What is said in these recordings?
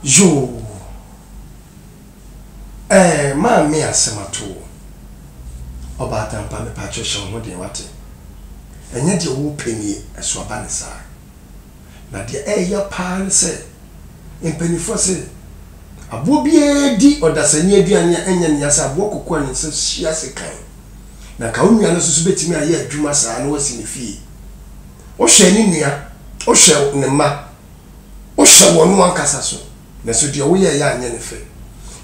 Yoo ɛɛ maame asɛm ato wo. Ɔbaatanpa mepakyɛw hyɛ wo ho den wate. Ɛnyɛ deɛ wo pɛ nie ɛso aba ne saa. Na deɛ ɛɛya paa ne sɛ mpaninfoɔ se aboɔ biara di ɔdasani aduane a ɛnyɛ nea sɛ aboɔ kɔkɔ a ne nsa si ase kan. Na nka wo nua no nso so bɛtumi ayɛ adwuma saa na wasi ne fie. Wo hwɛ ne nua, wo hwɛ ne mma Wohyɛ wɔn no ankasa so, nanso deɛ woyɛeɛ anyɛ no fɛ.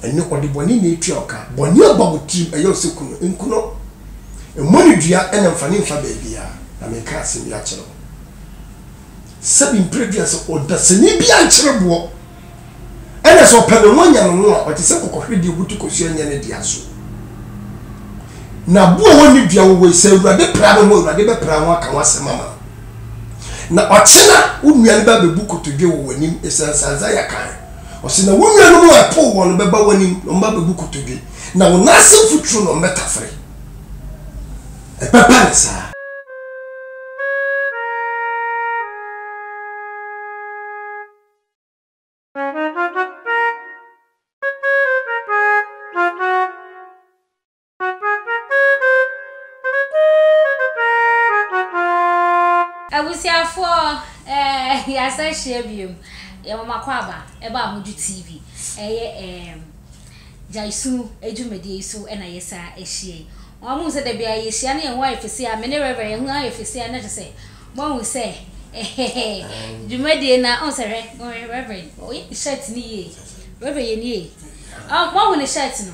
Ɛnnɛ ɔdebɔne na ɛretua wo ka, bɔne aba wo tirim, ɛyɛ wo sɛ ku no, nku no. Mmɔ no dua na mfa no mfa baabiara. Na mereka asɛm bi akyerɛ wo. Sɛbi mprɛdua sɛ ɔdasani bi ankyere boɔ, ɛna sɛ ɔpɛ ne ho anya ne ho a, ɔte sɛ kɔkɔhweredeɛ a ɔbutu kɔsuo nyɛ ne dea so. Na aboɔ a ɔnni dua wowɔe, sɛ Awurade pira ne ho a, Awurade bɛpira ho aka ho asɛm ama no. Na ɔkye no a, wo nnua no bɛbɛbu kotodwe wɔ w'anim, esiane sɛ Isaiah kae. Ɔse, Na wo nuanom a ɛpoo wɔn no bɛba w'anim, na wɔbɛbɛbu kotodwe, na wo nan ase mfuturo na wɔbɛtafere. Ɛbɛba no saa. Abusuafoɔ eh, yɛasan hyia biom Yɛwɔ mo akwaaba ɛba a modwo TV Ɛyɛ eh, gyaesu adwumadie yi so na yɛsan ahyia yi Wɔn amu sɛ da biara yɛhyia na yɛn ho ayɛ fɛsia Me ne Rev yɛn ho ayɛ fɛsia na kyɛ sɛ moahu sɛ eh, dwumadie na ɔn sɛ hwɛ Rev ɔyɛ ne shirt no yie Rev yɛ nie ɔn moahu ne shirt no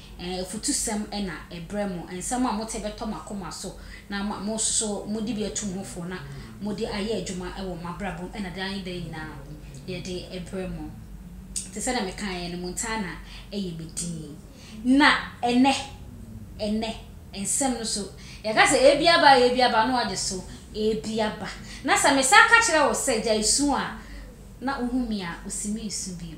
Afutusɛm na ɛbrɛ mo, nsɛm a mote bɛtɔ mo akoma so, na ama mo nso so mode bi atu mo ho fo, na mode ayɛ adwuma wɔ mo abrabɔ mu na daa nyinaa nyinaa yɛde brɛ mo. Te sɛdeɛ mekaeɛ no, mo ntaa na ɛyɛ me dinn. Na ɛnnɛ, ɛnnɛ, nsɛm no so, yɛka sɛ, Ebi aba, ebi aba, na woagye so, Ebi aba. Na sɛ mesan ka kyerɛ wo sɛ, Gyae su a, na wohu me a, wosi meresu bio.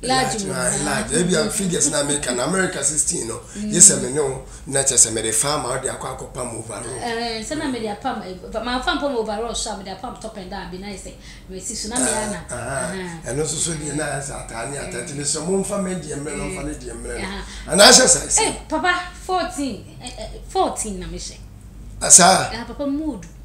Large wom a ɛyɛ large ebia figures na meka no America sixteen no gye sɛ me ne wo na kyerɛ sɛ mede fa ama wode akɔ akɔpam overall. Ɛɛ sɛ na mede apam mamfa mpam overall so a mede apam top and down bi na ayɛ sɛ masi so na me ara na ahaa ɛno nso so deɛ na ayɛ sɛ ataa ne ataa nti mesrɛ momfa me deɛ mmerɛ no mfa ne deɛ mmerɛ no anaa hyɛ size no. Ei papa fourteen fourteen na mehyɛ. Saa. Papa mood.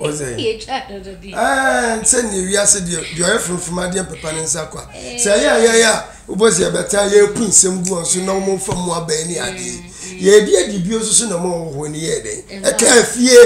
Ɔsɛ. Ɛɛ sɛ nea wiase deɛ deɛ ɔyɛ funfun adeɛ mpepa ne nsa kwa. Sɛ ɛyɛ a yɛyɛ a wobɔ sɛ yɛbɛta yɛpu nsɛm gu wɔn so na wɔn mfa mu abɛn ne adeɛ. Yɛdi adi bio nso so na wɔn wɔ hɔ ne yɛ dɛn. Ɛka fie.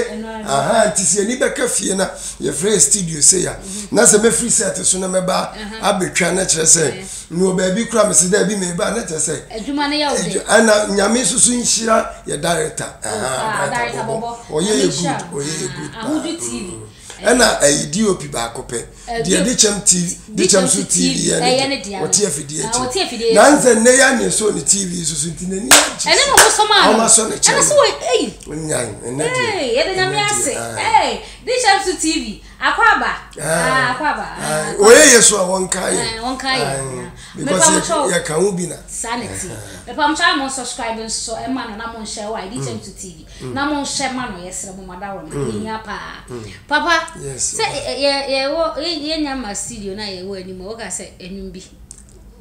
Aha nti sɛ ani bɛka fie na yɛfrɛ studio sɛ ya. Na sɛ mɛfiri set so na mɛba abɛtwa na kyerɛ sɛ. Mewɔ baabi kora mese da bi meba na kyɛ sɛ adwuma no yɛ wo de ana nyame nso so nhyira yɛ director aha ah, director bɔbɔ ɔyɛ yɛ good ɔyɛ yɛ good ahodu tv ɛna ɛyi dop baako pɛ deɛ de kyɛm tv de kyɛm so tv yɛ ne deɛ ɔte afidie akyi na nsɛ nnɛ yɛ ne so ne tv so so nti n'ani agye ɛne na ɔmosɔ maa no ɔmasɔ ne kyɛm ɛna sɛ wɔ ɛyi nyan ɛnɛ deɛ yɛde nyame ase de kyɛm so tv Akwaaba. Ah, akwaaba. Ah, wɔyɛ yɛ so a wɔnka yɛ. Eh, wɔnka yɛ. Because yɛka ho bi na. Saa na ti. Mepamkyɛ a mo subscribe nso ɛma no na mo nhyɛ wɔ ID Change to TV. Na mo nhyɛ ma no yɛsrɛ mo mada wɔ no. Ehia paa. Papa. Yes. Sɛ yɛ yɛ wɔ yɛ nya ma studio na yɛ wɔ anim. Woka sɛ enum bi.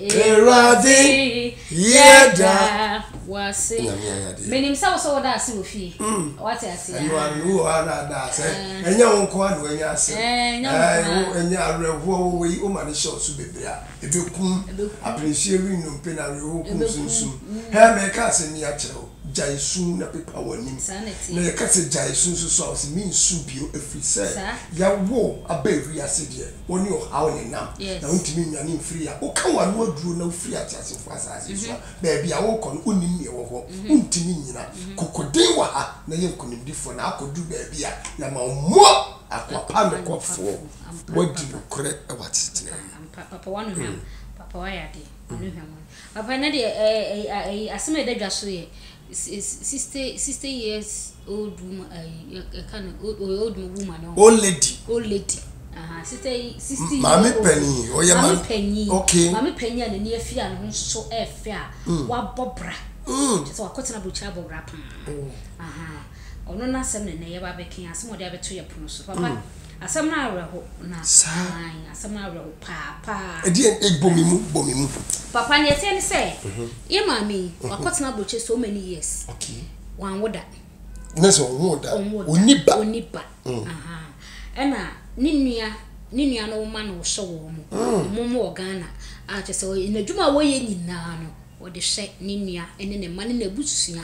Awurade yɛda wase. Nyame ayade. Menim sɛ wo sɛ woda ase wɔ fie. Mm. Wate ase a. Ɛno ano wɔ hɔ na ada ase. Eh. Ɛnyɛ wo nko ano ɛnyɛ ase. Eh, ɛnyɛ wo nko a. Eh, ɛnyɛ awerɛhoɔ wo wei wo ma ne hyɛ ɔso bebree a. Ebe kum. Ebe kum. Apenehyeɛ wi nnompe na awerɛhoɔ kum Ebe kum. sunsum. Mm. Hɛ me ka asɛm yi akyerɛ wo. Gyae su na pepa w'anim. Saa na ɛteɛ. Na yɛka sɛ gyae su nso so a ɔse mensu bio ɛfiri sɛ Saa. yɛawo wo aba ewiase deɛ. Wo ne ɔhaw na ɛnam, na wontumi nnwane mfiri a woka w'ano aduro na wofiri ateasefoɔ asase so a, baabi a worekɔ no, wonnim nea ɛwɔ hɔ, wontumi nnyina. Kokoden wɔ ha, na yɛ nkonimdifoɔ, na akɔduru baabi a yɛama wo mmoa. Akoa pa nokwafoɔ, woadi nokorɛ wɔ asetenaa mu. Ampa, papa, woano hwam, papa, woayɛ adeɛ, woano hwam, woano. Papa, ɛnnɛ deɛ, ɛɛ, ɛyi, ɛyi, asɛm a ɛda dwa so yɛ, Sixty years old woman ayi ɛka no old woman no. Old lady. Old lady. Aha sixty sixty years old. Maame panyin ɔyɛ maame. Maame panyin. Okay. Maame panyin a n'ani afi a ne ho so ɛfɛ a. Mm. Wabɔ bra. Mm. Kyɛ sɛ wakɔ tena aburukyiri abɔ bra paa. Oh. Aha ɔno n'asɛm na nnɛ yɛba abɛka yi asɛm a ɔde abɛto yɛ pono so papa. Mm. Asɛm no awerɛho na aane asɛm no awerɛho paa paa. Ɛdeɛn ei bɔ me mu bɔ me mu. Papa neɛ ɛteɛ ne sɛ yɛ maame yi wakɔtena aburokyire so many years wanwo da. Ne sɛ ɔnwoo da ɔnni ba. Ɔnni ba ɛna ne nua ne nua no ma no hyɛ wɔn mo wɔn mo wɔ Ghana a kyɛ sɛ n'adwuma a wɔyɛ nyinaa no wɔde hyɛ ne nua ne ne mma ne n'abusua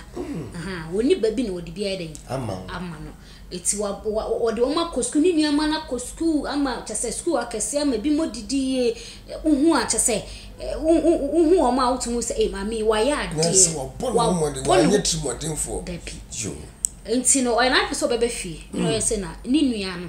ɔnni ba bi na wɔde bi ayɛ dɛn ama no. Eti wa wa wɔde wɔn akɔ sukuu, ne nneɛma no akɔ sukuu ama kyɛ sɛ sukuu akɛseɛ ama ebi mo didi yie. Wohu a kyɛ sɛ wohu wɔn a wotumi sɛ ee maame yi wayɛ adeɛ. Na sɛ wɔbɔ ne ho mmɔden, wanyɛ tirimɔdenfoɔ. Dabi. Yoo. Nti no ɔyɛ n'adwene sɛ ɔbɛba fie. Na ɔyɛ sɛ na ne nua no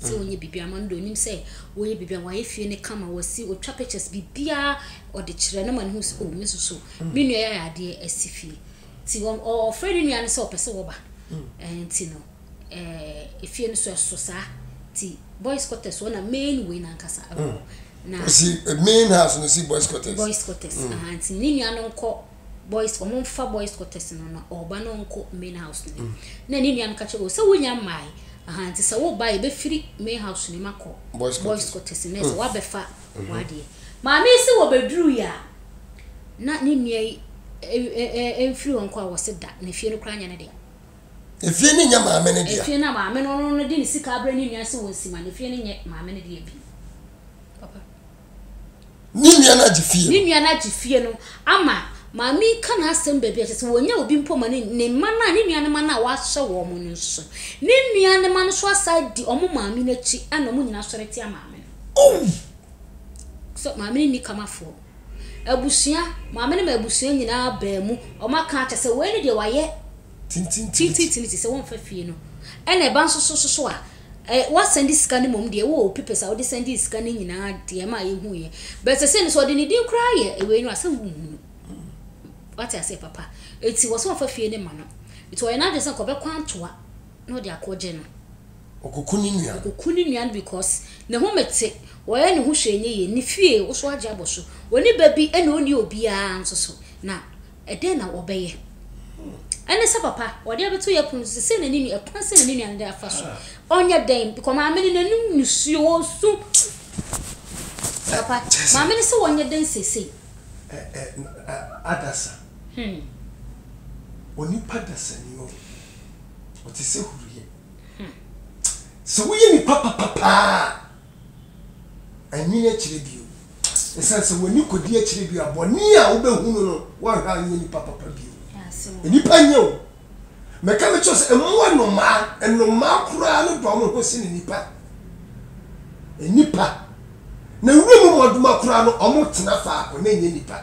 sɛ ɔnyɛ biribiara ma no deɛ ɔnim sɛ wɔyɛ biribiara wɔayɛ fie no kama wɔasi ɔtwa pictures biribiara ɔde kyerɛ no ma no hu sɛ oh me nso so me nua yɛ adeɛ asi fie nti ɔfrɛ ne nua no sɛ ɔpɛ sɛ wɔba nti no efie no so ɛso saa nti boys quarters wɔ na main wei nankasa ɛwɔ na main house no si boys quarters boys quarters nti ne nua no nkɔ boys ɔmo nfa boys quarters no na ɔba na ɔnkɔ main house no mm. na ne nua no ka kyerɛ o sɛ wonya mmae aha nti sɛ woba yɛ bɛfiri main house no mu akɔ boys quarters no sɛ mm. woabɛfa mm-hmm. wadeɛ maame yi sɛ wɔbɛduru yɛ a na ne nua yi mfiri hɔ nkɔ a wɔ se da na fie no koraa nyɛ ne deɛ efie no nyɛ maame no deɛ efie no maame no no de ne sika abrɛ ne nua sɛ wɔn si ma na efie no nyɛ maame no deɛ bi Ne nua no agye fie. Ne nua no agye fie no ama maame yi ka n'asɛm baabi a kyerɛ sɛ wɔnya obi mpo ma ne ne mma no a ne nua no mma no a wahyɛ wɔn no nso. Ne nua no mma no nso asa di wɔn maame no akyi ɛna wɔn nyinaa sɔre tia maame no. Oh! Sɛ maame no nni kamafoɔ. Abusua, maame no ma abusua nyinaa baa mu, wɔn aka akyɛ sɛ wei ne deɛ wayɛ Tintintini te sɛ wɔmfa fie no. Ɛna ɛba nso so soso a, ɛ, wɔasan de sika no mmom deɛ, wowɔ wo papers a wode san dii sika no nyinaa deɛ ɛma a yɛhuiɛ. But seesei no, sɛ ɔde ne din koraa yɛ wei no a, sɛ wonhu no. Woate aseɛ, papa? Enti wɔ sɛ wɔmfa fie no mma no. Enti ɔyɛ n'adwene sɛ nka ɔbɛkɔ antoa na ɔde akɔgye no. Ɔkɔku ne nua no. Ɔkɔku ne nua no because ne ho mete, ɔyɛ ne ho hwee nyɛ yie. Ne fie, wo so agye abɔ so. Ɔnni ba bi ɛna ɔnni obiara nso so. Na Ɛdeɛn na wɔbɛyɛ? Ɛne sɛ papa, ɔde abɛto yɛn pono so sɛ, sɛn na ne nua, kwan sɛn na ne nua no de afa so? Ɔnyɛ dɛn? Because maame no n'anom nisuo, ɔresu. Papa, maame no sɛ ɔnyɛ dɛn seesei? Adasa. Onipa dasa ni o. Ɔte sɛ huruiɛ. Sɛ woyɛ nipa papa paa a, ɛnwene akyire bio. Esiane sɛ w'ani kodi akyiri de a, bɔne a wobehunu no, woanhwɛ a nyɛ nipa papa bio. Nnipa nyɛ o. Meka mekyerɛ sɛ mmoa nnomaa, nnomaa koraa no dɔ wɔn ho sene nnipa. Nnipa, na nwura mu mmoadoma koraa no, wɔn tena faako na nyɛ nnipa.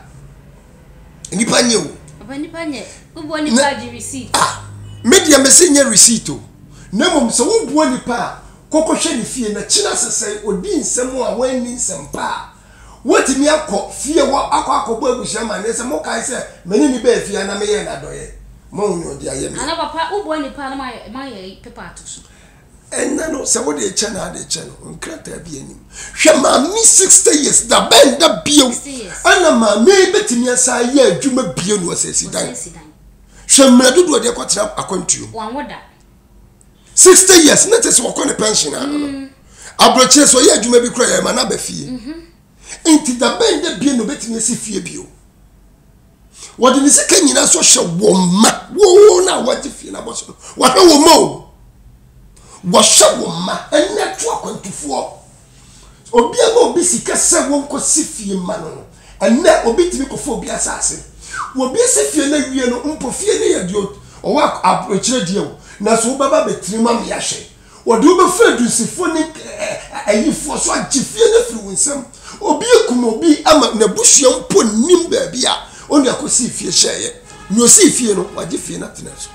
Nnipa nyɛ o. Papa nnipa nyɛ. Wobua nnipa gye receipt. Ah, me deɛ mese nyɛ receipt o. Na mmom sɛ wobua nnipa a, kɔ kɔhwɛ ne fie na kyena sɛ sɛ ɔdi nsɛm a wanni nsɛm pa a, woatumi akɔ fie hɔ akɔ akɔbɔ abusua amanneɛ sɛ mokae sɛ me ne no baa fie ha na meyɛɛ no adɔeɛ ma wo ne ɔde ayɛ me. Ana papa wobua nipa no ma yɛ pepa ato so. Ɛnyɛ no sɛ wode rekyɛ no ade kyɛ no nkrataa bi anim hwɛ maame sixty years da bɛn da bio ɛna maame yi bɛtumi asan ayɛ adwuma bio no ɔsɛ asidan hwɛ mmerɛ dodoɔ deɛ kɔtena akwantuo mu. sixty years ne te sɛ wɔkɔ ne pension ano no mm. aburokyire so ɔyɛ adwuma bi kura yɛ ɛma n'aba fie mhm. nti dabɛn dɛ bie na obetumi esi fie bio wɔde ne sika nyinaa so hyɛ wɔn mma wɔn na wɔgye fie na bɔ so no wɔhwɛ wɔn mma o wɔhyɛ wɔn mma ɛnna to akwantufoɔ. Obiara ma obi sika sɛ wɔnkɔsi fie mma no no, ɛnnɛ obi tumi kɔfa obi asase. Wɔbɛsi fie no awie no, mpo fie no yɛ deɛ ɔwɔ aburokyerɛ deɛ o, nanso wobɛba abɛtena mu ama yɛahwɛ. Wɔde wo bɛfa adunsifoɔ ne ayifoɔ so agye fie no afiri wo nsam. Obi akum obi ama n'abusua mpo nnim baabi a onua kɔsii fie hyɛeɛ. Nea ɔsii fie no, wagye fie no atena so.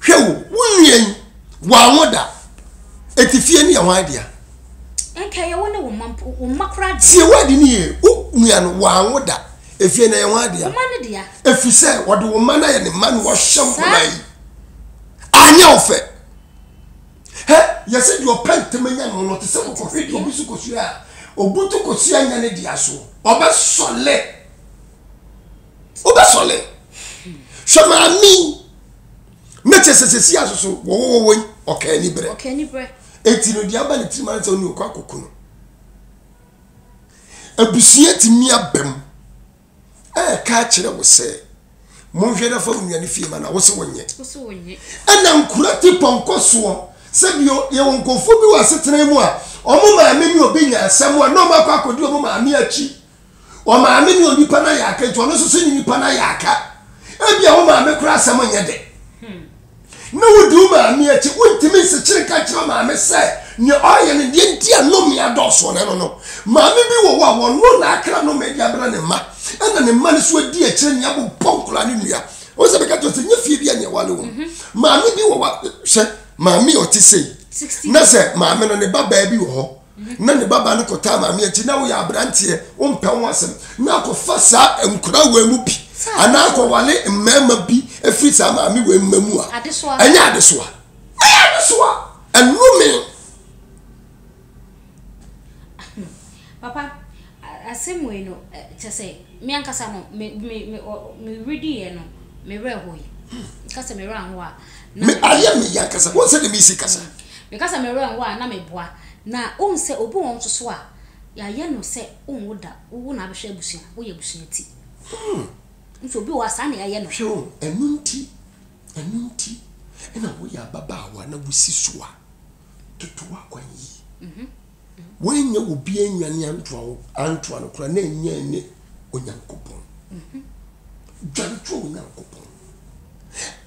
hwɛ wo wo nua yi wɔanwo da eti fie no yɛ wɔn adea. nka yɛ wo ne wo mma mpo wo mma koraa deɛ. tie wɔadi ne yie wo nua no wɔanwo da efie no yɛ wɔn adea. mma no dea. efi sɛ wɔde wo mma no ayɛ ne mma na wɔhyɛ nkɔla yi anyɛ wo fɛ hɛ yɛsɛ deɛ ɔpɛ ntɛm anya no no te sɛ kɔkɔhwɛ deɛ obi so kosua a obutu kosua nya ne dea so ɔbɛsɔle. wobɛsɔle hwɛ maame mɛkyɛ sɛ sɛsi asoso wɔwɔwɔwɔ yi ɔka ani berɛ ɔka ani berɛ ɛti no deɛ aba ne tirim ara sɛ wone ɔkɔ akɔku no abusua tumi aba mu ɛka kyerɛ wo sɛ monhwɛ na fa wo nuane fie ma na wo se wonyɛ ɛna nkura te pɔnkɔ soɔ sɛbi yɛwɔ nkɔfoɔ bi wɔ asetena mu a ɔmo maame ne ɔbɛnya asɛm a na ɔmo akɔ akɔdi ɔmo maame akyi Wo maame ne onipa no ayɛ aka nti ɔno nso so ne nipa no ayɛ aka. Ebia wo maame koraa asɛm nyɛ dɛ na wodi wo maame akyi. Wontumi nsekyere nka nkyerɛ wo maame sɛ nea ɔreyɛ no deɛ nti a nnome adɔɔso ne no no. Maame bi wɔ hɔ a wɔno na akra nnome de abrɛ ne mma ɛna ne mma no nso adi akyire nea bobɔ nkwadaa no nnua. Wo sɛ meka kyerɛ wo sɛ nyɛ fie bi a na ɛwale wɔn. Maame bi wɔ hɔ a hwɛ maame a ɔte sei na sɛ maame no ne babaa bi wɔ hɔ na ne babaa no kɔtaa maame akyi na woyɛ aberanteɛ wompɛ ho asɛm na akɔfa saa nkora wei mu bi anaa akɔwale mmarima bi ɛfiri saa maame wei mma mu a ɛnyɛ adesoa ɛyɛ adesoa ɛnome Papa, Asɛm wei no, kyerɛ sɛ, me ankasa no, me, me, me, ɔ, me rediiɛ no, me werɛ hoe. Meka sɛ me werɛ anho a, na Me, meboa. ayɛ me ya ankasa. Wohu sɛdeɛ meresi kasa? Meka sɛ me werɛ anho a, na meboa. Na wohu sɛ, obi wɔ hɔ nso so a, yɛayɛ no sɛ wonwo da, wo, wo na abɛhwɛ abusua, woyɛ abusua ti. Wohu sɛ, obi wɔ hɔ a, saa na yɛayɛ no. Hwɛ o, ɛno nti, ɛno nti na woyɛ ababaawa na wosi so a. toto w'akwan yie. Mhm. Woanyɛ wo bi anwane antoa wo antoa no koraa na ɛnyɛ ne Onyankopɔn. Mhm. Dwantoa Onyankopɔn.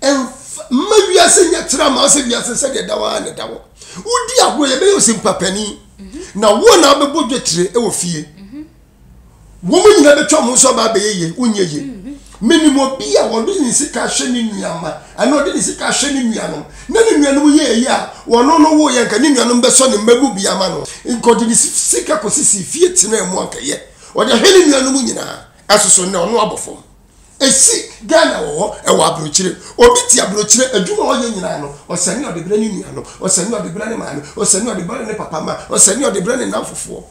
Ɛmfa mma wiase nyɛ kyerɛ ama sɛ wiase sɛdeɛ da waa na ɛda hɔ. Wodi agorɔ yɛbɛyɛ osimpa panin. Mhm. Na wo na wobɛbɔ dwetire wɔ fie. wɔn nyinaa bɛtwa wɔn nso aba abɛyɛ yie wonyɛ yie mhm. menim obi a wɔde ne sika hwɛ ne nuama ɛna ɔde ne sika hwɛ ne nuanom na ne nuanom yɛ ɛyi a wɔno no wo yɛ nka ne nuanom bɛsɔ ne mma mu bi ama no nka ɔde ne sika kɔsisi fie tena mu ankɛyɛ ɔde hwɛ ne nuanom nyinaa ɛsoso nnɛ ɔno abɔ fam ɛsi ghana wɔ hɔ ɛwɔ aburokyire obi te aburokyire adwuma ɔyɛ nyinaa no ɔsɛne ɔde berɛ ne nuanom ɔsɛne ɔde berɛ ne maame ɔsɛne ɔde berɛ ne papa ma ɔsɛne ɔde berɛ ne nam fofoɔ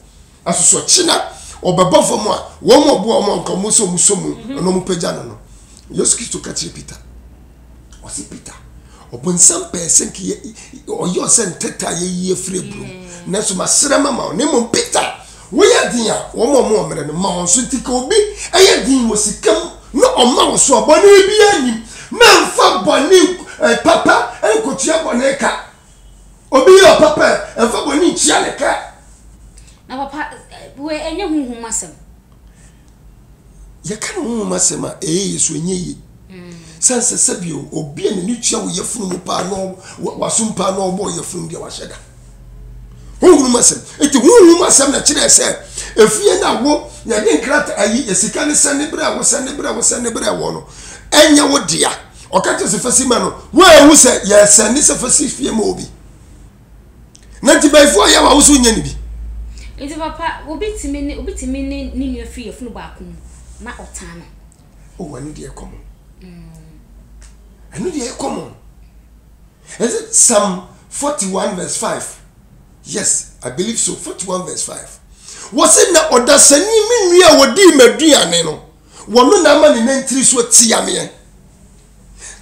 Nso so ɔkye na ɔbɛba fam a, wɔn a ɔboa wɔn anka wɔn sɛ wɔn sɔ mu mhm. na wɔn pagya no no. Yesu Kristo ka kyerɛ Peter, ɔsi Peter, ɔbɔnsam pɛɛ sɛ nka yɛ ɔyɛ ɔsɛ ntɛtɛ a yɛyi afiri aburo mu, nanso masrɛ ma ma wo, na mmom Peter, woyɛ den a wɔn a wɔn mmerɛ no ma wɔn so nti ka obi ɛyɛ den wɔ sika mu na ɔma wo so a bɔne biara nim, na nfa bɔne eh, papa nkotua bɔne ka. Obi yɛ ɔpa pɛ, ɛmfa bɔne nkyia ne ka. Na papa, wei ɛnyɛ honhom asɛm. Yɛka no honhom asɛm a, ɛyɛ yɛ so ɛnyɛ yie. Mm. Sɛ nsɛ sɛ bio, obi a n'ani tua wo yɛfunu mu paa na wasom paa na ɔbɔ yɛfunu deɛ wahyɛ da. Honhom asɛm. Eti honhom asɛm na kyerɛ sɛ efie na wo yɛde nkrata ayi sika ne sɛ ne brɛ wo sɛ ne brɛ wo sɛ ne brɛ wo no ɛnyɛ wo dea. ɔka kyerɛ sɛfɛsi ma no woahu sɛ yɛsɛn ne sɛfɛsi fie ma obi na nti bɛyifoɔ yɛ wa wo so nyɛ ne bi nti papa obi tumi ne obi tumi ne ne nua firi yɛfunu baako mu na ɔtaa no o oh, ɛno deɛ kɔmɔ mm. ɛno deɛ kɔmɔ is it psalm 41 verse 5 yes i believe so 41 verse 5 wɔsi na ɔdasani mi nua a wɔdi ma duane no Wɔn no na ama ne nantiri so tiameɛ.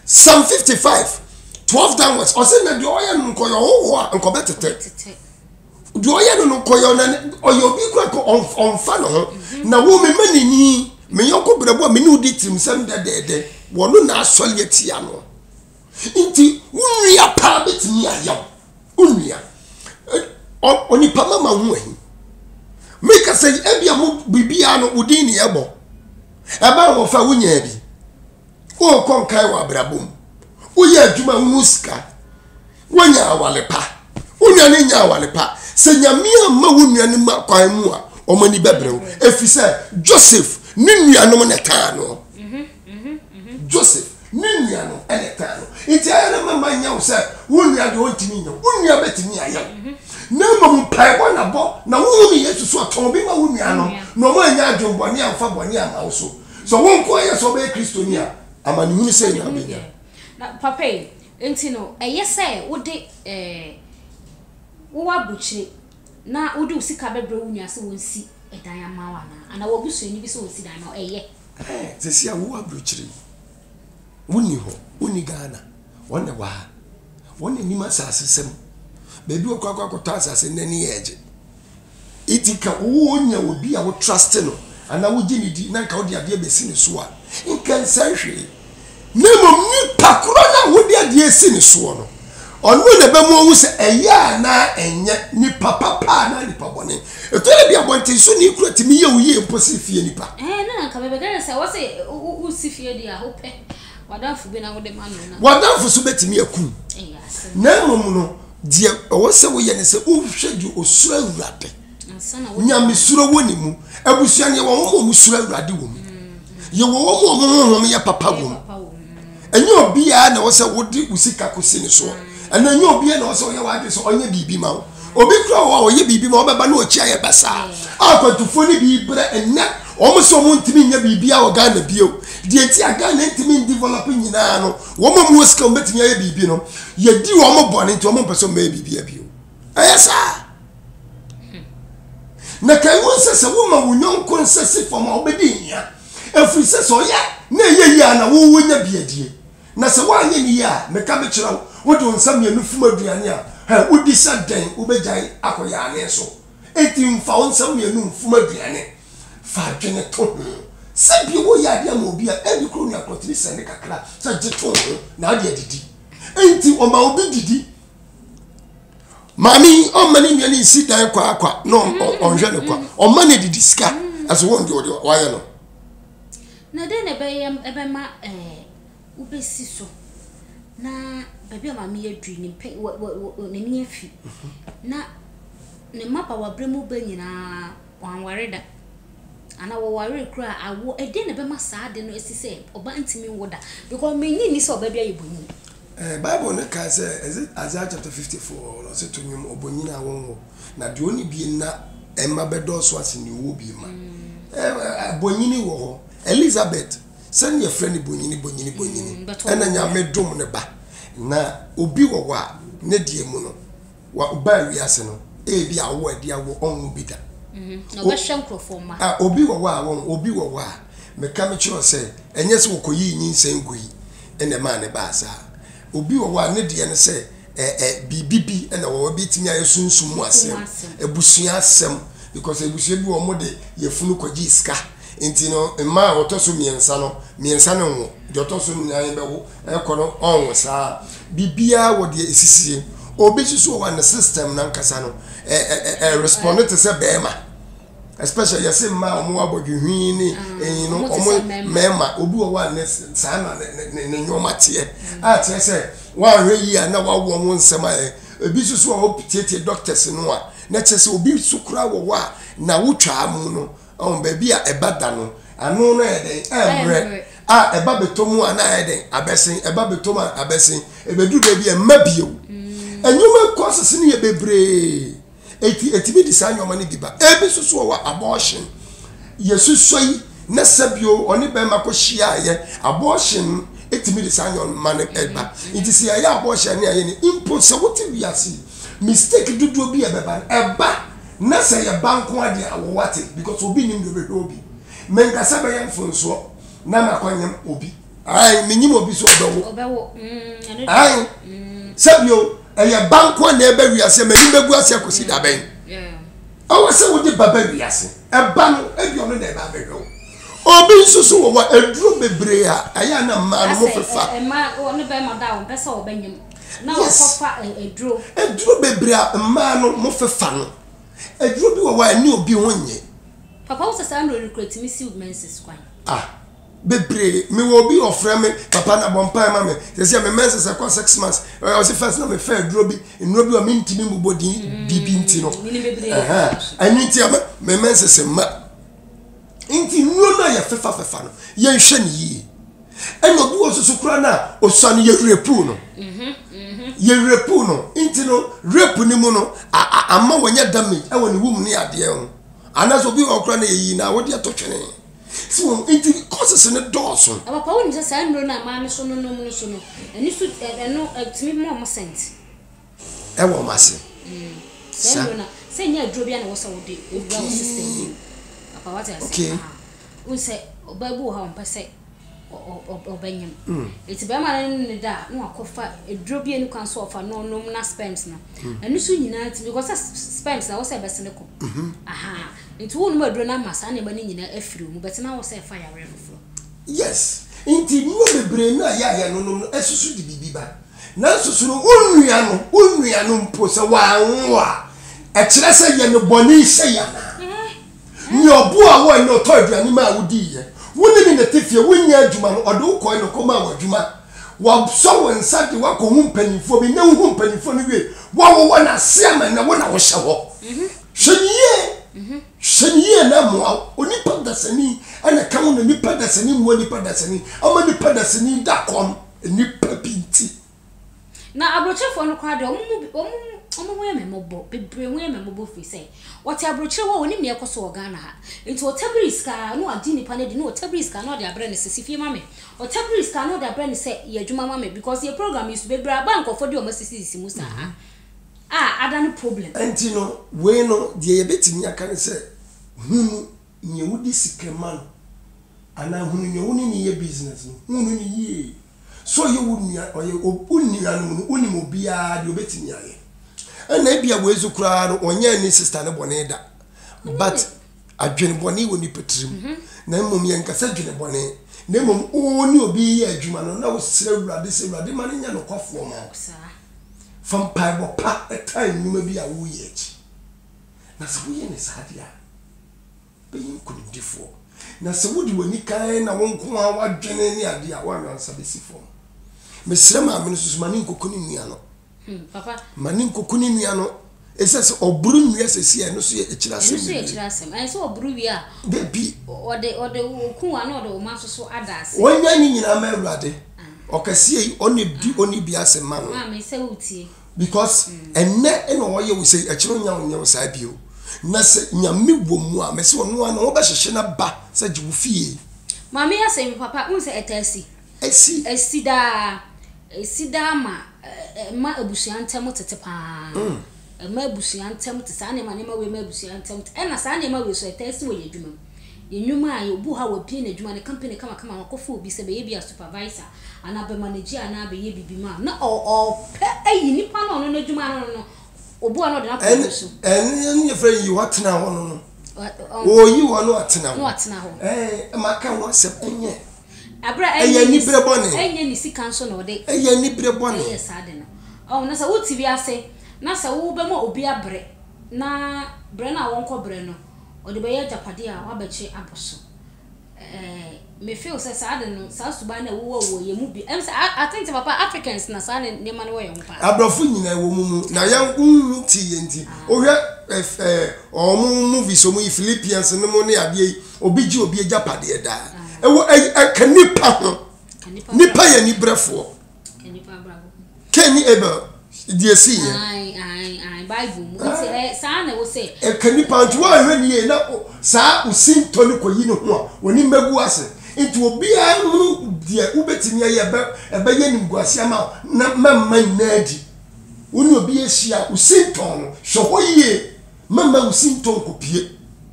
Psalm 55, 12 downwards. Ɔsɛ na deɛ ɔyɛ no nkɔyɛ ɔhohoɔ a nkɔbɛ tete. Deɛ ɔyɛ no no nkɔyɛ ɔna ɔyɛ obi kura kɔ ɔnfa ne ho. Mhm. Na wo me ma n'ani me yɔnko brɛbo a me ne odi tirim sɛm dɛdɛɛdɛ. Wɔn no na asɔre atia no. Nti wo nua paa bɛtumi ayɛ wo wo nua onipa mama ho ahi meka sɛ ebia mo biribiara no wodin ne ɛbɔ ɛma wɔfa wonyaa bi wokɔ nkae wɔ abrabɔ mu woyɛ adwuma wohu sika wonya awale pa wo nua no nya awale pa sɛ nyame amma wo nua no ma kwan mu a wɔn ani bɛbrɛ wo ɛfiri sɛ joseph ne nuanom na ɛkaa no mhm, mhm, mhm. joseph Ne nua no na ɛkaa no. Nti ayɛ no mɛma nyɛ wo sɛ wo nua deɛ ɔntumi nyɛ wo. Wo nua bɛtumi ayɛ wo. Mhm. Na mmom mpaebɔ na bɔ na wohu no Yesu so ɔtɔn obi ma wo nua no na ɔma anya adwene bɔne amfa bɔne amma wo so. Sɛ wo nko ara yɛ sɛ wobɛyɛ Kristoni a, amanehunu sɛn na wobɛnya? Na papa yi, nti no ɛyɛ sɛ wode eh, wo w'aburokyire na wode wo sika bɛbrɛ wo nua sɛ wɔnsi dan ama wo anaa? Anaa w'abusuani bi sɛ ɔnsi dan ma wo? Ɛyɛ. Ɛɛ sɛsi a wowɔ abrokyire yi wonni hɔ wonni Ghana wɔn na ɛwɔ ha wɔn na nim asase sɛm baabi wɔkɔ akɔ akɔtɔ asase na ani yɛ ɛgye iti ka wowɔ nya obi a wo trust no anaa wogye ne di na nka wode adeɛ bɛsi ne so a nka nsɛe hwee na mmom nipa korɔ no a wode adeɛ asi ne soɔ no, ɔno na ɛbɛma wahu sɛ ɛyɛ anaa ɛnyɛ, nipa papa anaa nipa bɔne. Ɛtɔ da bi a abɔntensoni kura tumi yɛ wo yie mpo sene fie nipa. Ɛɛ, na anka mebɛka kyerɛ no sɛ ɛwɔ sɛ wosi fie deɛ a, wopɛ w'adamfo bi na wode ma no na. W'adamfo nso bɛtumi akum. Na mmom no, deɛ ɛwɔ sɛ woyɛ ne sɛ wohwɛ deɛ ɔsuro Awurade. nyamesuro wɔ ne mu abusua no yɛwɔ wɔn a wɔsuro awurade wɔ mu yɛwɔ wɔn a wɔn honhom yɛ papa wɔ mu ɛnyɛ obiara na wɔsɛ wode wo sika kɔsi ne soɔ ɛno ɛnyɛ obiara na wɔsɛ ɔyɛ w'adwe sɛ ɔnyɛ biribi ma wo obi kura wɔ a ɔyɛ biribi ma ɔbɛba na ɔkyia yɛ basaa a akwantufoɔ no bi berɛ ɛnɛ wɔn sɛ wɔn ntumi nyɛ biribi a wɔ ghana bio deɛ nti a ghana ntumi ndevelop nyinaa no wɔn a wɔn sika wɔn bɛtumi ayɛ biribi no yɛdi wɔn bɔne nti wɔn mpɛ sɛ wɔn bɛyɛ biribi bio ɛyɛ saa na kan wɔn sɛ sɛ woma wo nyɔnko nsa si fam a wobɛdi hia ɛfiri sɛ sɛ ɔyɛ na ɛyɛ yie a na wowɔ nya biadie na sɛ woanyɛ ne yie a meka mekyerɛ wo wode wo nsa mmienu fom aduane a hɛ wodi sɛ dɛn wobɛgyae akɔ yaane so enti mfa wo nsa mmienu mfom aduane fa adwene to ho sɛ bia woyɛ adeɛ ama obi a ɛbi koro nua korɔtiri sɛ ne kakra sɛ gye to ho na ade adidi enti ɔma obi didi maame yi ɔma ne nua ne nsi dan kwa kwa na ɔnhwɛ ne kwa ɔma ne didi sika ɛso wɔn de ɔde wayɛ no. na dɛn na ɛbɛyɛ ɛbɛma ɛɛ eh, wobɛsi so na baabi a maame yɛ dui ne mpɛ wɔ wɔ wɔ n'ani afi na ne mmabaawa berɛ mu bɛ nyinaa wɔanware da ana wɔware kura awo ɛdɛn na ɛbɛma saa de no ɛsi sɛ ɔba ntumi nwo da because menyi ni sɛ ɔba bi ayɛ bɔnyi. Bible no kã sɛ, edze Isaiah chapter fifty four no, ɔse, To nwom obonyin a wonnwo, na deɛ ɔnni bie nna mma bɛdɔɔso asen deɛ ɔwɔ bie ma. Bonyini wɔ hɔ. Elizabeth, sɛnea yɛfrɛ no bonyini, bonyini, bonyini, ɛna Nyame dom no ba, na obi wɔ hɔ a, ne deɛ mu no, Wobaa wiase no, ebi a wowɔ adi a wowɔ ɔnwo bi da. Na ɔbɛhwɛ nkurɔfoɔ mma. A, obi wɔ hɔ a wɔn, obi wɔ hɔ a, meka mekyerɛ wo sɛ, ɛnyɛ sɛ wɔkɔyii nyinsɛn gui na ɛmaa no baa saa. Obi wɔ hɔ a, ne deɛ ne sɛ, ɛ, ɛ, biribi bi na wɔwɔ, ɛbɛtumi ayɛ sunsum mu asɛm, abusua asɛm, because abusua bi wɔ hɔ, wɔde yafunu kɔgyee sika, nti no, mmaa a wɔtɔ so mmiɛnsa no, mmiɛnsa no nwo, deɛ ɔtɔ so nnan bɛwo. Ɛkɔ no ɔnwo saa. Biribiara wɔ deɛ ɛsisiɛ. Obi nso so wɔ hɔ a ne system no ankasa no ɛ responde te sɛ bɛrima. Especially yɛse mmaa a wɔn abɔdwe hwii ne ɛyi no wɔn mmarima. Obi wɔ hɔ a ne saa na ne nneɛma teɛ. A kyerɛ sɛ woanhwɛ yie a na wawo wɔn nsɛm ayɛ. Ebi nso so wɔ hɔ a wopitiatia doctors no a na kyerɛ sɛ obi nso koraa wɔ hɔ a na wotwaa mu no Ɔn, baabi a ɛba da no, ano no ayɛ dɛn? Ɛmmerɛ. A, ɛba bɛtɔ mu a, na ayɛ dɛn? Abɛsen. Ɛba bɛtɔ mu a, abɛsen. Ɛbɛduru baabi a, ɛmma bio. Nneɛma causes no yɛ bebree, enti ɛtumi de saa nneɛma no bi ba. Ebi nso so wɔ hɔ a, abortion. Yɛsusua yi, na sɛ bio ɔne bɛrima kɔhyiaeɛ. Abortion tumi de saa nneɛma no ba. Nti sɛ yɛayɛ abortion a, ne ayɛ ne. Mpo sɛ wote wiase yi, mistake dodoɔ bi a ɛbɛba no, ɛba. Na sɛ yɛ ba nko ara deɛ awɔ wate because obi nnim deɛ ɔbɛhwɛ obi. Menkasa bɛyɛ mfomsoɔ na makɔ nyem obi. Ae menyim obi so ɔbɛwo. Ɔbɛwo mm ɛno deɛ. Ae sɛbio ɛyɛ ba nko ara na ɛba wiase m'anim bɛgu ase akɔsi da bɛn. Ɛwɔ sɛ wode ba ba wiase. Ɛba no ɛbi ɔno na ɛba abɛhwɛ wo. Obi nso so wɔ hɔ aduro bebree a ɛyɛ a na mmaa no mofefa. Ɛsɛ ɔma ɔne bɛɛma da a ɔmpɛ sɛ ɔbɛnyem. Na Yes. wɔkɔ fa ɛ- aduro. Aduro bebree a mmaa no mo fefa no, aduro bi wɔ hɔ a ɛne obi ho nyɛ. Papa wo sɛ saa nnuro no kura tumi siw menses kwan. Ah, bebree. Me wɔ obi ɔfrɛ me, papa na bɔ mpae ma me. Sɛsi a me menses ɛkɔ six months. Ɛ, Ɔsi first na me fɛ aduro bi, nnuro bi wɔ hɔ a me ntumi mbobɔ din biribi nti no. menim bebree Ɛhɛn. paa so. Ɛno nti ama me menses mma. Nti nnuro no a yɛfefa fefa no, yɛnhwɛ no yie. ɛna obi wɔ soso koraa no a ɔsua no yɛwerɛ puu no yɛwerɛ puu no nti no rape no mu no ama wɔnyɛ damage ɛwɔ ne wom ne adeɛ ho anaasɛ obi wɔ koraa no yɛyi na wode ɛtɔ twene si wɔn nti kɔsese no dɔɔso papa wonim sɛ saa nnuro no a maa no so no nom no so no ɛno so ɛno tumi ma ɔmo sɛnti Ɛwɔ mo ase sa. Sɛ nyɛ aduro bia na ɛwɔ sɛ wode wura wo system mu papa wate ase okay wohu sɛ ɔbaa bi wɔ hɔ a ɔmpɛ sɛ ɔbɛnyem ɛti bɛrima no ne ne da a na wakɔfa aduro bi ɛni kwan so ɔfa no ɔnom na sperms no ɛno so nyinaa ti because sperms na ɛwɔ sɛ ɛbɛse ne kɔ aha nti wonom aduro no ama saa nneɛma no nyinaa afiri mu bɛtena wɔ sɛ ɛfa yareɛ foforɔ Yes, nti nneɛma bebree no a yɛ a yɛnonom no ɛsoso de biribi ba. Nanso so no wo nua no, wo nua no mpo sɛ wanwo a, ɛkyerɛ sɛ yɛ no bɔne hyɛ yi anaa? Nea ɔboaa wo ɛnɛ ɔtɔɔ aduane maa wo diiɛ, wo ne no na ɛte fie, wo nyɛɛ adwuma no, ɔde wo kɔɔɛ na ɔkɔmaa wo adwuma, wasɔ wo nsa de wo akɔ hu mpaninfoɔ bi, nnɛ wo hu mpaninfoɔ no wiei, wawowɔ no ase ama nnɛ wo na wo hyɛ hɔ. Hwɛ no yie! Hwɛ no yie na ɛmmoa wo. Onipa dasani na ɛka ho na nipa dasani mmoa nipa dasani ama nipa dasani da kɔm nnipa bi nti. Na aburokyerefoɔ no koraa deɛ, wɔn mu bi, wɔn, wɔn ho yɛ me mmɔbɔ, bebree ho yɛ me mmɔbɔ firi sɛ, wɔte aburokyire hɔ a, wɔnim deɛ ɛkɔ so wɔ Ghana ha. Nti ɔtabiri sika ara, na wagye nnipa no adi, na ɔtabiri sika na ɔde abrɛ no sɛ, si fie ma me. Ɔtabiri sika na ɔde abrɛ no sɛ, yɛ adwuma ma me, because yɛ program yi so, bebree aba a nkurɔfoɔ de wɔn asisisisi mu saa. a ada no problem. Ɛnti no wei no deɛ yɛbɛtumi aka ne sɛ hunu neɛ wode sika ma no anaa hunu neɛ wone no yɛ business no hunu no yie sɛ ɔyɛ wo nua ɔyɛ wo nuanom no wonim obiara deɛ ɔbɛtumi ayɛ ɛna ebia wei so koraa no ɔnyɛ ne sister no bɔne da but adwene bɔne wɔ nipa tirim mhm. na mmom yɛnkasa adwene bɔne na mmom wo ne obi yɛ adwuma no na wosrɛ awurade sɛ awurade ma no nyɛ nokwafoɔ ma wo Fa mpaebɔ pa taa nnwuma bi a woreyɛ akyi, na sɛ woyɛ no saa de a, wobɛyɛ nkonimdifoɔ. Na sɛ wode w'ani kann na wo nko ara w'adwene ne adeɛ a, w'anwansa bɛsi fam. Mesrɛ maame no nso so, ma ne nkɔku ne nua no. Hmm, papa. Ma ne nkɔku ne nua no. Ɛsɛ sɛ ɔboro nnua sɛsi a ɛno nso yɛ akyiri asɛm bebree. Ɛno nso yɛ akyiri asɛm. Ɛsɛ sɛ ɔboro wie a. Dabi. Ɔde ɔde oku a na ɔde ɔma nso so ada ase. Wɔnyɛ ne nyinaa ma Awurade. Ɔkɛseɛ yi ɔne di ɔne bi ase ma no. Maame sɛ wotie. Because ɛnɛ na ɔyɛ wo sɛ akyiri ɔnya wo nyɛ wo saa bio. Na sɛ Nyame wɔ mu a mɛsɛ ɔno ara na ɔbɛhyehye no aba sɛ gye wo fie. Maame asɛm papa wohu sɛ ɛtaa si. Asi. Asi daa. Asi daa ma ɛma abusua ntam tete pa ara. Ɛma abusua ntam tete. Saa nneɛma, nneɛma wei ma abusua ntam tete. Ɛna saa nneɛma wei nso, ɛtaa si wɔ yɛn adwumam. Yɛn nnwuma a, obi wɔ hɔ a wabue n'adwuma, ne company kamakama, wakɔfa obi sɛ bɛyɛ ebia supervisor, anaa bɛmanager anaa bɛyɛ biribi ma no, na ɔpɛ ayi nipa no a ɔno n'adwuma no no, obi wɔ hɔ a na ɔde no akɔ ɔno so. Ɛno na yɛfrɛ no yi hɔ atena hɔ no no. Ɔreyi hɔ na watena hɔ. Na watena hɔ. Ɛɛ, maka ho asɛm, ɛnyɛ. Ɛyɛ anibere bɔne. Ɛyɛ anibere bɔne. Ɔho na sɛ wo te wiase na sɛ wo bɛ ma obi abrɛ na brɛ no a wɔn kɔ brɛ no ɔde bɛ yɛ agyapadeɛ a wa bɛ kye abɔ so ɛɛ me feel sɛ saa de no saa suban na ɛwɔ wɔ wɔ yɛ mu bi ɛm sɛ I think sɛ papa Africans na saa ne nneɛma no wɔ yɛ ho paa abrɔfo nyina ɛwɔ mu mu na yɛ nhu ti yɛ nti ah. wohwɛ ɛɛ eh, eh, ɔmo movies ɔmo yi Philippians no mo ne adeɛ yi Obi gye obi agyapadeɛ daa. Ɛwɔ ɛka nipa ho. Nipa yɛ nibrɛfoɔ. Cain ne Abel deɛ si yɛ. Bible mu nti ɛ eh, saa na ɛwɔ sɛ. Ɛka nipa nti wɔn ahwɛ nie na saa osintɔ no kɔ yi ne ho a wɔne mmagu ase nti obiara hunu deɛ wobɛtumi ayɛ ɛbɛ ɛbɛyɛ nimguase ama na mɛmma nyinaa adi. Wo ne obi ahyia osintɔ no hwɛ hɔ yie mɛmma osintɔ nkopie.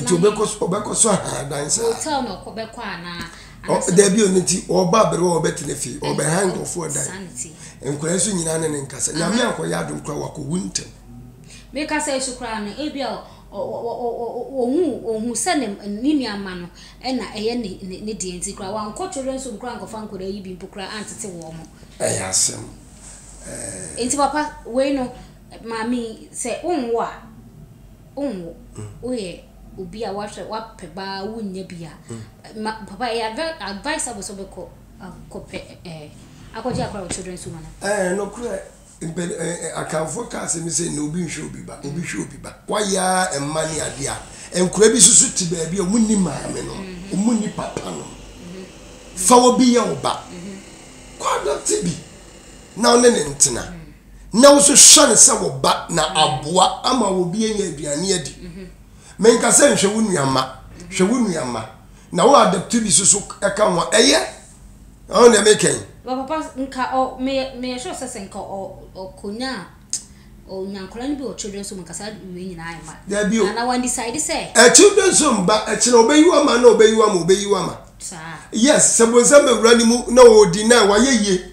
nti ɔbɛkɔ so ɔbɛkɔ so ahan dan saa. hotel na ɔkɔ bɛkɔ anaa. ɔ dabi o ne ti ɔba abere wɔ ɔbɛtena fie ɔbɛhan nkurɔfoɔ dan nkwadaa nso nyinaa ne ne nkasa nyame ankɔyɛ adom kora wakɔwu ntɛm. mekasa yi so koraa no ebi a ɔhu ɔhu sɛ ne ne nua mma no ɛna ɛyɛ ne ne ne deɛ nti koraa wankɔ children's home koraa ankɔfa nkwadaa yi bi mpo koraa antete wɔn mo. ɛyɛ asɛm ɛɛ. nti papa wei no maame yi sɛ wonwo a. Wonwo. Woyɛ obi a woahwɛ woapɛ baa wonnya bi a, ma papa ɛyɛ adva advisable sɛ wobɛkɔ akɔpɛ ɛɛ akɔgye akora wɔ children's home anaa? Ɛɛ, nokorɛ. Mpɛ ɛ ɛ Akanfoɔ ka asɛm bi sɛ, Nnɛ obi nhwɛ obi ba, obi hwɛ obi ba. Woayɛ ara mma ne adeɛ a, nkora bi nso so te baabi a wɔnni maame nom, wɔnni papa nom. Fa obi yɛ wo ba. Kɔ adopte bi na wo ne no ntena. na wo nso hwɛ no sɛ wo ba na aboa ama obi anya aduane adi. Menka sɛ nhwɛ wo nua mma, hwɛ wo nua mma, na wo adopte bi so so ka ho a, ɛyɛ. Ɔho deɛ meka yi. Wɔ papa, nka ɔ, meyɛ, meyɛ sure sɛ sɛ nka ɔ, ɔkɔnya, ɔnya nkɔla no bi wɔ children's home nka saa wei nyinaa ayɛ ma. Daabi o. Ana wandecide sɛ. Ɛ, children's home ba, ɛkyena ɔbɛyi wo ama na ɔbɛyi wo ama, ɔbɛyi wo ama. Saa. Yes, sɛ bonsam bɛwura ne mu na ɔɔdi na wayɛ yie.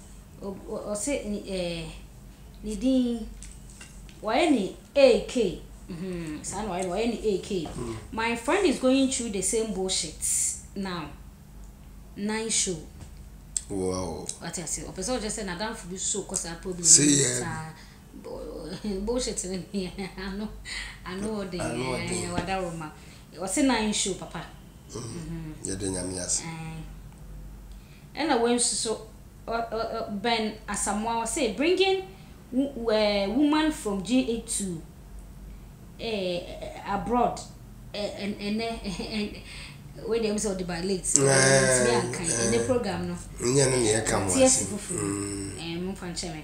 Ɔse ne eh ne din Wayɛ ne AK hmm saa na wayɛ no wayɛ ne AK My friend is going through the same bullshit now Nine show Wate aseɛ ɔpɛ sɛ ɔkyerɛ sɛ n'adamfo bi so kɔ saa problem no mu saa Bullshit no deɛ ano ano ɔden eh wadaworoma Ɔse nine show papa Yɛda Nyame ase. Ɛna wensu so ɛ-ɛ-ɛ bɛn Asamoah ɔse bringing wo-ɛ-woman from GA to ɛ-ɛ-ɛ abroad ɛ-ɛ-ɛnɛ ɛ-ɛ-ɛ wei deɛ ɛm sɛ ɔde ba late mentumi ankan ɛnɛ program no ɛ-ɛ-ɛ mate ase foforo ɛɛ momfa nkyɛ me.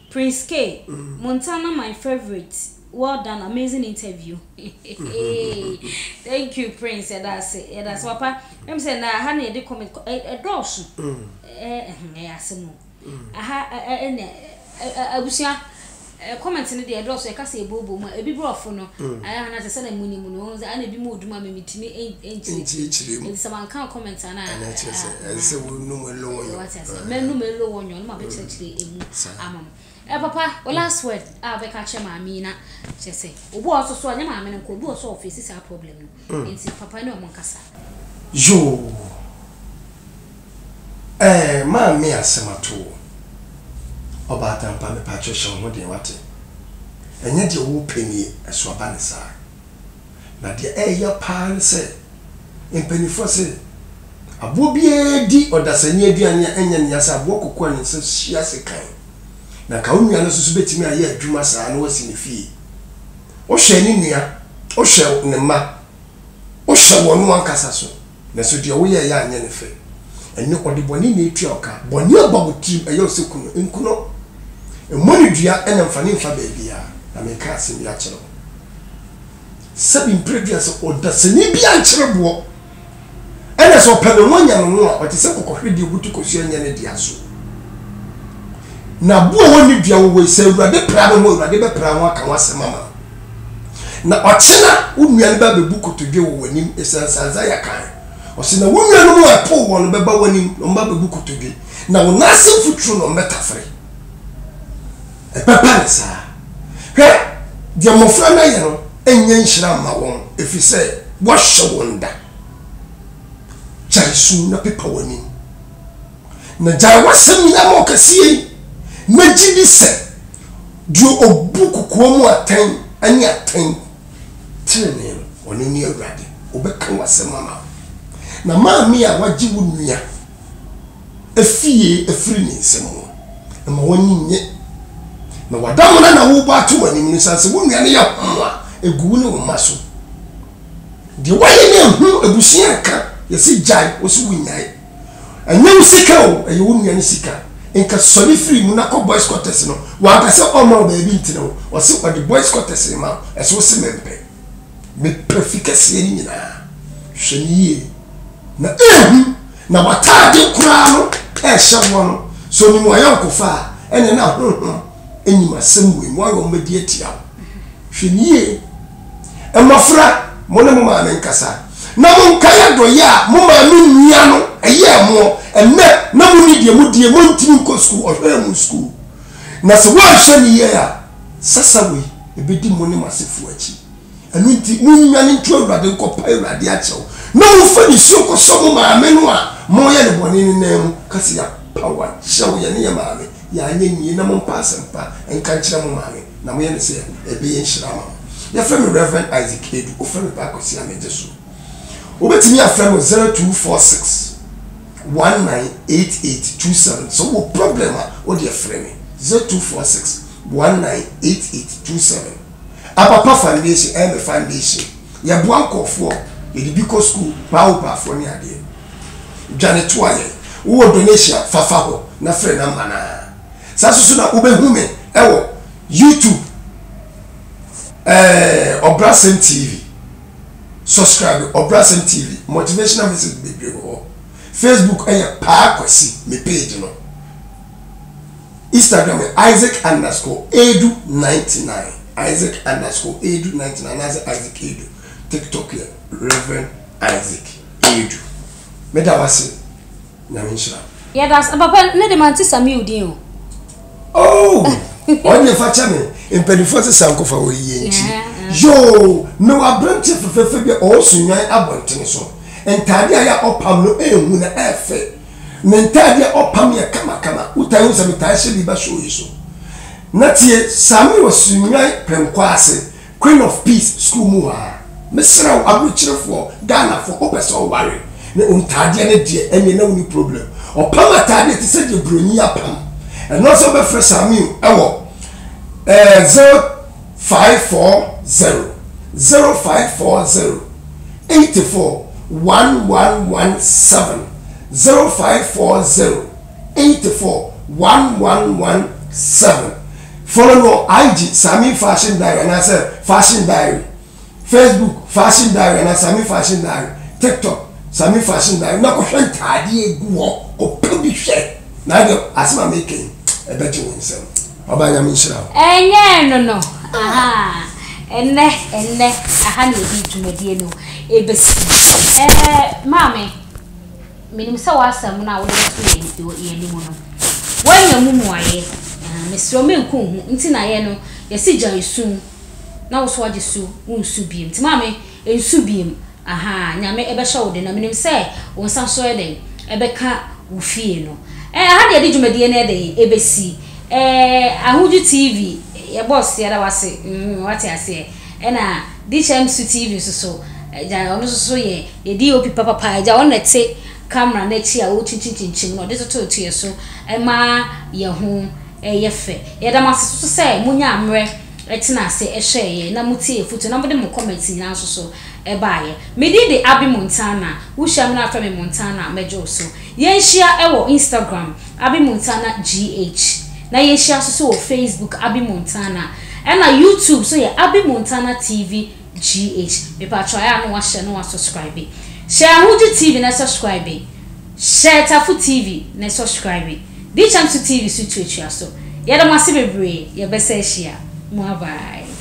Prince Kae, Montana my favorite well done amazing interview heheheeii thank you Prince yɛda ase yɛda ase papa wonim sɛ nnɛ aha na yɛde comment kɔ ɛ ɛdɔɔso ɛ ɛhe ɛyɛ asɛm o aha ɛ ɛ ɛnɛ ɛ ɛ abusua ɛ comment no deɛ ɛdɔɔso yɛka sɛ yɛbooboo mu a ebi borɔfo no ayɛ aha na te sɛ na monim no wohu sɛ ɛna ebi mu odu mu a me metumi ɛn ɛnkyerɛkyerɛ mu nti sɛ manka comment a na ɛna ɛkyerɛ sɛ ɛsɛ sɛ wonum ɛlɔɔ yɛ. Yoo eh maame asɛm ato wo. Ɔbaatan pa mepakyɛw hyɛ wo ho den wate. Ɛnyɛ deɛ wopɛ nie ɛso aba ne saa. Na deɛ ɛreyɛ paa ne sɛ, mpanimfoɔ se, aboɔ biara di ɔdasani aduane a ɛnyɛ ne ya sɛ aboɔ koko a ne nsa si ase kan. Na anka wo nua no nso so bɛtumi ayɛ adwuma saa na wasi ne fie. Wohwɛ ne nua, wohwɛ ne mma, wohwɛ wɔn ankasa so. Nanso deɛ woyɛeɛ anyɛ no fɛ. Ɛnnɛ, ɔde bɔne na ɛretua wo ka. Bɔne aba wo tirim, ɛyɛ wo sɛ ku no. Nku no. Mmɔ no dua na mfa no mfa baabiara. Na mereka asɛm bi akyerɛ wo. Sɛbi mprɛ du a sɛ ɔdasani bi ankyere boɔ, ɛna sɛ ɔpɛ ne ho anya ne ho a, ɔte sɛ kɔkɔhweredeɛ a ɔbutu kɔsuo anyɛ ne dea so. Na aboɔ a ɔnni dua wowɔ yi, sɛ Awurade pira ne ho a, Awurade bɛpira ho aka ho asɛm ama no. Na ɔkye no a, wo nnua no bɛbɛbu kotodwe wɔ w'anim, esiane sɛ Isaiah kae. Ɔse, Na wo nuanom a ɛpoo wɔn no bɛba w'anim, na wɔbɛbɛbu kotodwe, na wo nan ase mfuturo na wɔbɛtafere. Ɛbɛba no saa. Hwɛ, deɛ mmɔfra no ayɛ no nyɛ nhyira mma wɔn, ɛfiri sɛ wɔahyɛ wɔn da. Gyae su na pepa w'anim. Na gyae w'asɛm nyinaa ma ɔkɛseɛ yi. Mɛgye di sɛ deɛ ɔbu kokoa mu atɛn ne atɛn tenenee no, ɔno ne Awurade. Ɔbɛka w'asɛm ama wo. Na maame a wagye wo nua afie afiri ne nsam no, mma w'ani nnye. Na w'adamena na worebɔ ato w'anim no, sane sɛ wo nua no yɛ hom a, gu wo ne wo mma so. Deɛ woayɛ no anhu abusua anka. Yɛse gyae, wose wonyae. Ɛnyɛ wo sika o, ɛyɛ wo nua no sika. Nka sɔre firi mu na kɔ boys quarters no. Wanka sɛ ɔmma wo baabi ntena o, ɔse ɔde boys quarters rema wo, ɛso wo se mempɛ. Mepɛ fi kɛseɛ no nyinaa. Hwɛ no yie na hu na w'ataade koraa no ɛrehyɛ woɔ no, sɛ ɔnim w'ayɔnkofa a, ɛneɛ na honhom nim asɛm wɔ mu, woayɛ wɔn bɛdi atia wo. Hwɛ no yie. Mmofra, mo ne mo maame nkasa, na monkae adɔeyɛ a mo maame nua no yɛɛ mo ɛnnɛ na munni deɛ mo deɛ montumi nkɔ sukuu, ɔhwɛɛ mo sukuu, na sɛ wanhwɛ no yie a, sasa wei ɛbɛdi mo ne mo asefoɔ akyi. Ɛno nti monnwane nto Awurade nkɔpae Awurade akyɛw, na momfa nisuo nkɔsɔ mo maame no a moreyɛ no bɔne no nan mu, ka sɛ, Yɛapaw akyɛw, yɛne yɛn maame, yɛanyɛ yie, na mompa asɛmpa nka nkyerɛ mo maame. na moyɛ no sɛ ɛbɛyɛ nhyira ama mo. Yɛfrɛ me Rev. Isaac Adu. Wofrɛ me Paa Kwesi a, megye so. Wobɛtumi afrɛ me 0246 198827. Sɛ wowɔ problem a, wo deɛ frɛ me 0246 198827. Abapa Foundation ɛyɛ me foundation. Yɛboa nkurɔfoɔ, yɛde bi kɔ sukuu, paa wo paafoɔ ne adeɛ. Dwane toa yɛn. Wowɔ donation a, fa fa hɔ na frɛ number no ara. Saa nso so na wobɛhu me wɔ YouTube eh, Ɔbrasɛm TV. Subscribe Ɔbrasɛm TV, motivational message bebree wɔ hɔ. Facebook yɛ Paa Kwasi, me page no. Instagram yɛ Isaac underscore Edu 99, Isaac underscore Edu 99, anaasɛ Isaac Edu. TikTok yɛ Reverend Isaac Edu. Meda wase. Nyame nhyira wo. Yɛdase papa ne de mante Samew din o. Oh! Ɔnyɛ fa kyɛ me mpanimfoɔ se sankofa wɔ yie nti yoo me wɔ aberanteɛ fɛfɛɛfɛ bi ɔwɔ sunwan abɔntene so ntaadeɛ a yɛ ɔpam no ɛhu na ɛfɛ ne ntaadeɛ ɔpam yɛ kamakama wotaa hu sɛ metaa hyɛ bi ba show yi so na tie saa me wɔ sunwan pɛnkɔ ase Queen of peace school mu a. Mesrɛ wo ahurukyerɛfoɔ Ghana foɔ wopɛ sɛ ɔware ne ontaadeɛ no deɛ ɛneɛ na woni problem ɔpam ataadeɛ te sɛ deɛ broni apam ɛno nso wobɛfrɛ Saamiu ɛwɔ eh, zero five four zero zero five four zero eight four one one one seven zero five four zero 84117 Follow no IG, Sami Fashion Diary anaasɛ Fashion Diary Facebook, Fashion Diary anaa Sami Fashion Diary TikTok, Sami Fashion Diary na kɔhwɛ ntaadeɛ egu hɔ, kɔpɛ bi hwɛ na ɛdeɛ asɛm a meka yi ɛbɛgye wo nsam. Ɔbaa Nyame nhyira wo. Ɛnyɛɛ no no ahaa ɛnɛ ɛnɛ aha na yɛde dwumadie no ɛbɛsi ɛɛ maame. Menim sɛ w'asɛm no a wode bɛto yɛn anim no, woanya mu mmuaeɛ. Mesrɛ wo, mɛnku wo ho nti na yɛn no, yɛse gyae su na wo so agye so wonsu bio. Nti maame, nsu bio. Ahaa, Nyame bɛhyɛ wo den na menim sɛ wo nsa nso yɛ dɛn? Ɛbɛka wo fie no. Ɛɛ, ha deɛ yɛde dwumadie no yɛ dɛn? Ɛbɛsi. Ɛɛ, Ahuju TV, yɛbɔ ɔseɛ da wo ase. Wate aseɛ? Ɛna Dichem su TV nso so gya ɔno nso so yɛ yɛ DOP papapa gya ɔno na ɛte camera no akyi a ɔrekyinkyim kyinkyim na ɔde toto to yɛ so ɛma yɛ ho yɛ fɛ yɛda mo ase soso sɛ mo nyaa mmerɛ tena ase ɛhwɛɛ yɛ na mo tie afutuo na mo de mo comments nyinaa nso so ɛbaa yɛ me din de Abby Montana wo hyia me na afrɛ me Montana mɛgye wo so yɛn hyia ɛwɔ Instagram Abby Montana GH, na yɛhyia nso so wɔ Facebook Abby Montana ɛna YouTube so yɛ Abby Montana TV GH. Mepatwɔ ayɛ a na wahyɛ na wa subscribe. Hyɛ Ahuju TV na subscribe. Hyɛ Tafo TV na subscribe. Di Kyɛmso TV so tuatua so. Yɛda mo ase bebree, yɛbɛsa ahyia. Mua bye.